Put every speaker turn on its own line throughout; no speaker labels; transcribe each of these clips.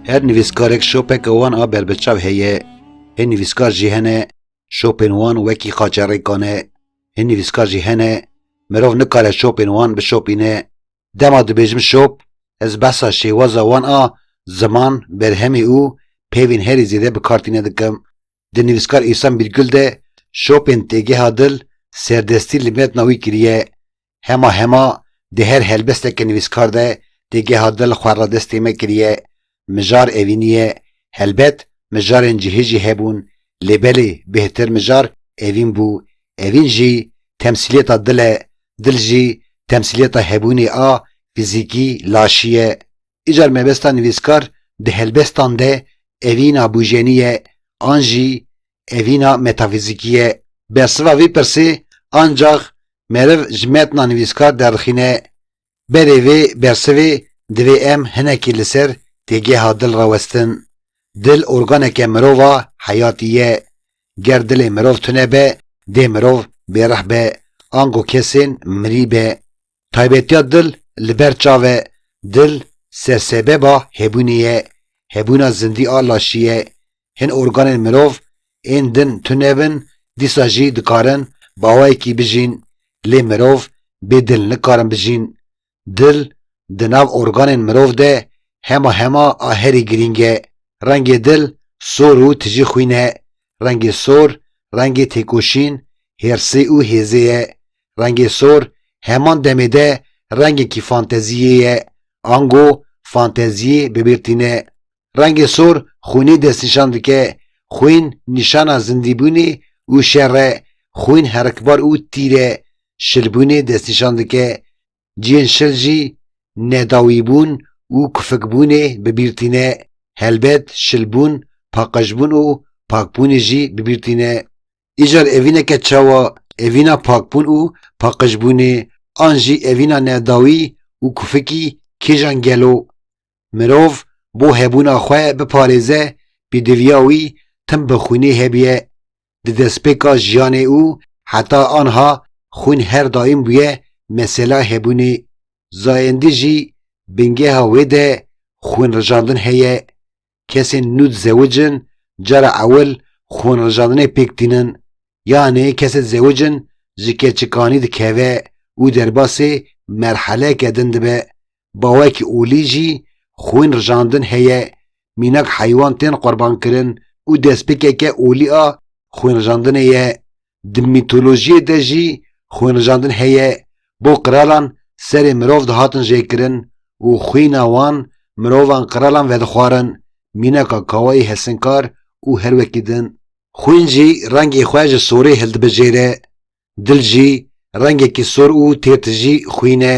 Her nivîskarek şopeke wan a berbiçav heye. Hin nivîskar jî hene şopên wan wekî xaçerêkan e. Hin nivîskar jî hene mirov nikare şopên wan bişopîne. Dema dibêjim şop, ez behsa şêwaza wan a ziman, berhemê û peyvên herî zêde bi kar tîne dikim. di nivîskar Îhsan Bîrgul de şopên têgeha dil serdestî li metna wî kiriye. Hema hema di her helbesteke nivîskar de têgeha dil xwe radestê me kiriye. Mijar evînî ye. Helbet mijarên cihê jî hebûn lê belê bêhtir mijar evîn bû. Evîn jî temsîliyeta dil e. Dil jî temsîliyeta hebûnê a fîzîkî, laşî, ye. Îcar mebesta nivîskar di helbestan de evîna bûjenî ye an jî evîna metafîzîkî ye. Bersiva vî pirsê ancax meriv ji metna nivîskar derdixîne. Berê vê bersivê divê em hinekî li ser têgeha dil re westin. Dil organeke mirova heyatî ye. Ger dilê mirov tune be dê mirov bêrih be ango kesên mirî be. Taybetiya dil li ber çav e, dil sersebeba hebûnê ye, hebûna zindî a laşî ye. Hin organên mirov ên din tune bin, dîsa jî dikarin bawayekî bijîn, lê mirov bê dil nikarin bijîn. Dil di nav organên mirov de hema hema a herî girîng e. Rengê dil sor û tijî xwîn e. Rengê sor rengê têkoşîn, hêrsê û hêzê ye. Rengê sor heman demê de rengekî fanteziyê ye, ango fanteziyê bibêr tîne. Rengê sor xwînê destnîşan dike, xwîn nîşana zindîbûnê û şer e, xwîn herikbar û tîr e, şilbûnê destnîşan dike. Cihên şil jî nedawîbûn û kufikbûnê bibîr tîne. Helbet şilbûn, paqijbûn û pakbûnê jî bibîr tîne. Îcar evîneke çawa evîna pakbûn û paqijbûnê an jî evîna nedawî û kufikî kêjan gelo? Mirov bo hebûna xwe biparêze pêdiviya wî tim bi xwînê hebûye. Di destpêka jiyanê û heta anha xwîn her daîm bûye mesela hebûnê. Zayendî jî bingeha wê de xwînrijandin heye. Kesên nû dizewic in cara ewil xwenrijandinê pêk tînin yanê kesê dizewic in ji keçikanî dikeve û derbasê merheleke din dibe. Bawekî olî jî xwenrijandin heye, mînak heywan tên qurbankirin û destpêkeke olî a xwenrijandinê ye. Di mîtolojiyê de jî xwênrijandin heye, bo qiralan serê mirov dihatin jêkirin û xwîna wan mirovan qiralan vedixwarin, mînaka kawayî hesinkar û her wekî din. Xwîn jî rengê xwe ji sorê hildibijêre, dil jî rengekî sor û têr tijî xwîn e.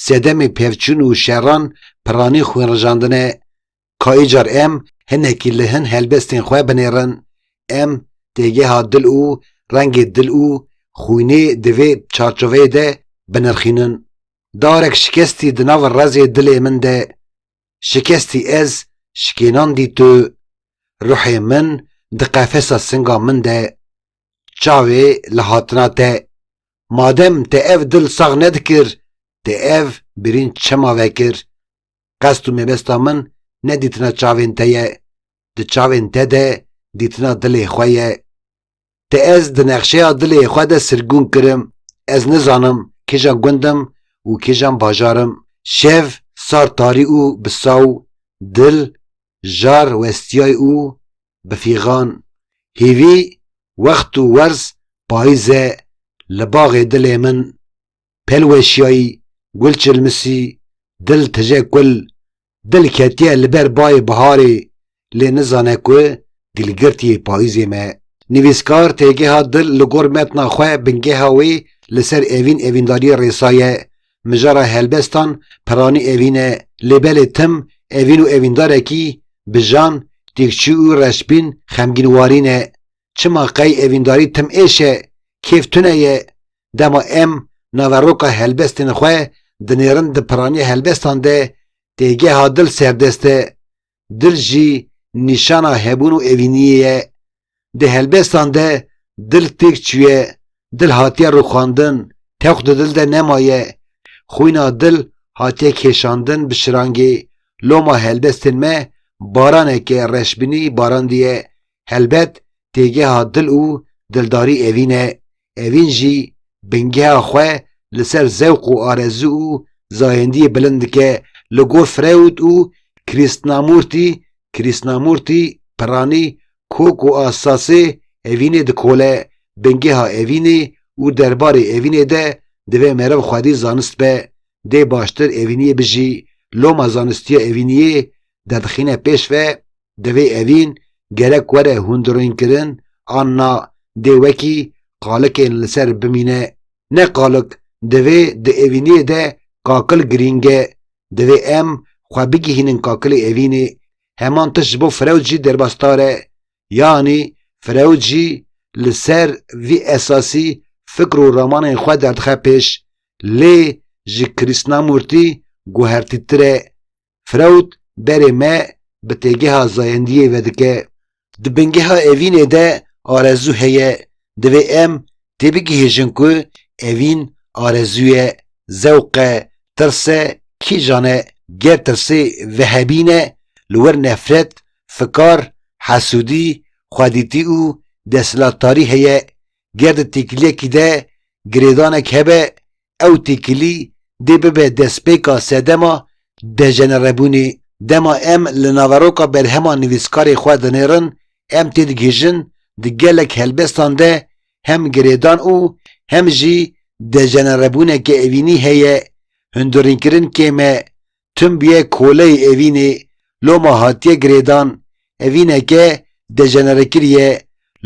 Sedemê pevçûn û şeran piranî xwênrijandin e. Ka îcar em hinekî li hin helbestên xwe binêrin, em têgeha dil û rengê dil û xwînê di vê çarçoveyê de binirxînin. Darek şikestî di nav rezê dilê min de. Şikestî ez şikênandî tu. Ruhê min di qefesa singa min de. Çavê li hatina te. Madem te ev dil sax nedikir, te ev birîn çima vekir? Qest û mebesta min ne dîtina çavên te ye, di çavên te de dîtina dilê xwe ye. Te ez di nexşeya dilê xwe de sirgûn kirim, ez nizanim kîjan gund im û kîjan bajar im. Şev sar tarî û bi saw, dil, jar westiyay û bi fîxan, hîvî, wext û werz payîz e li baxê dilê min. Pêl weşiyayî, gul çilmisî, dil tije kul, dil ketiye li ber bayê biharê lê nizane ku gilgirtiyê payîzê me. Nivîskar têgeha dil li gor metna xwe bingeha wê li ser evîn evîndariyê rêsaye. Mijara helbestan piranî evîn e lê belê tim evîn û evîndarekî bijan, têkçû û reşbîn xemgînwarî ne. çima qey evîndarî tim êş e, kêf tune ye, dema em naveroka helbestên xwe dinêrin di piranî helbestan de, têgeha dil serdest e. Dil jî nîşana hebûn û evîniyê ye. Di helbestan de dil têk çûye, dil hatiye rûxandin, tewq di dil de nemaye, xwîna dil hatiye kêşandin bi şirangê, loma helbestên me baranek e reşbînî barandiye, Helbet têgeha dil û dildarî evîn e, evîn jî bingeha xwe li ser zewq û arezû û zayendiyê bilind dike li gor Freud û Krishnamurti Krishnamurti, Pirani, kok û asasê evînê dikole, bingeha evînê û derbarê evînê de divê meriv xwedî zanist be, dê baştir evîniyê bijî, loma zanistiya evîniyê derdixîne pêş ve, Divê evîn gerek were hundirînkirin an na dê wekî qalikên li ser bimîne. Ne qalik divê di evîniyê de kakil girîng e. Divê em xwe bigihînin kakilê evînê. Heman tişt ji bo Freud jî derbasdar e. Yanî Freud jî li ser vî esasî fikr û ramanên xwe derdixe pêş. Lê ji Krishnamûrtî guhertîtir e. Freud berê me bi têgeha zayendiyê vedike. Di bingeha evînê de arezû heye. Divê em têbigihêjin ku evîn arezû ye, zewq e, tirs e, kîjan e. Ger tirsê vehebîn e, li wir nefret, fikar, hesûdî, xwedîtî û desthilatdarî heye. Ger di têkiliyekî de girêdanek hebe, Ew têkilî dê bibe destpêka sedema dejenerebûnê. Dema em li naveroka berhema nivîskarê xwe dinêrin, em têdigihîjin di gelek helbestan de hem girêdan û hem jî dejenerebûneke evînî heye. Hundirînkirin kêm e. Tim bûye koleyê evînê. Loma hatiye girêdan. Evîneke dejenerekirî ye.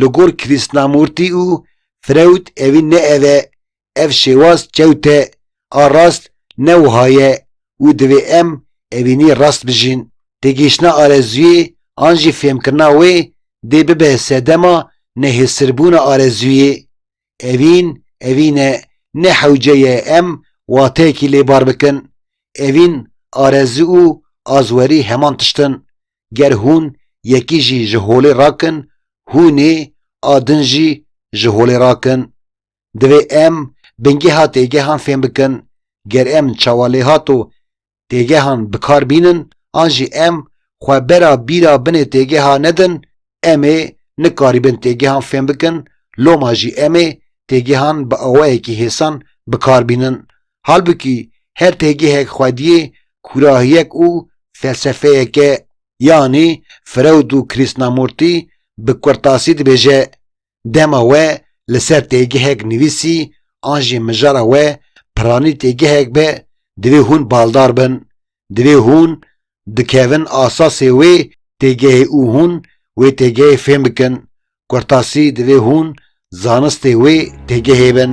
Li gor Krishnamûrtî û Freud evîn ne ev e. Ev şêwaz çewt e, a rast ne wiha ye û divê em evînî rast bijîn. Têgihiştina arezûyê an jî fêmkirina wê dê bibe sedema nehêsirbûna arezûyê. Evîn, evîn e, ne hewce ye em wateyekî lê bar bikin. Evîn, arezû û azwerî heman tişt in. Ger hûn yekî jî ji holê rakin, hûnê a din jî ji holê rakin. Divê em bingeha têgehan fêm bikin, ger em çawalêhat û têgehan bi kar bînin an jî em xwe bera bîra binê têgeha nedin, em ê nikarîbin têgehan fêm bikin, loma jî em ê têgehan bi awayekî hêsan bi kar bînin. Halbikî her têgehek xwediyê kûrahiyek û felsefeyek e. Yanî Freud û Krishnamurti bi kurtasî dibêje, Dema we li ser têgihek nivîsî an jî mijara we piranî têgihek be divê hûn baldar bin, divê hûn dikevin asasê wê têgehê û hûn wê têgehê fêm bikin, kurtasî divê hûn zanistê wê têgehê bin.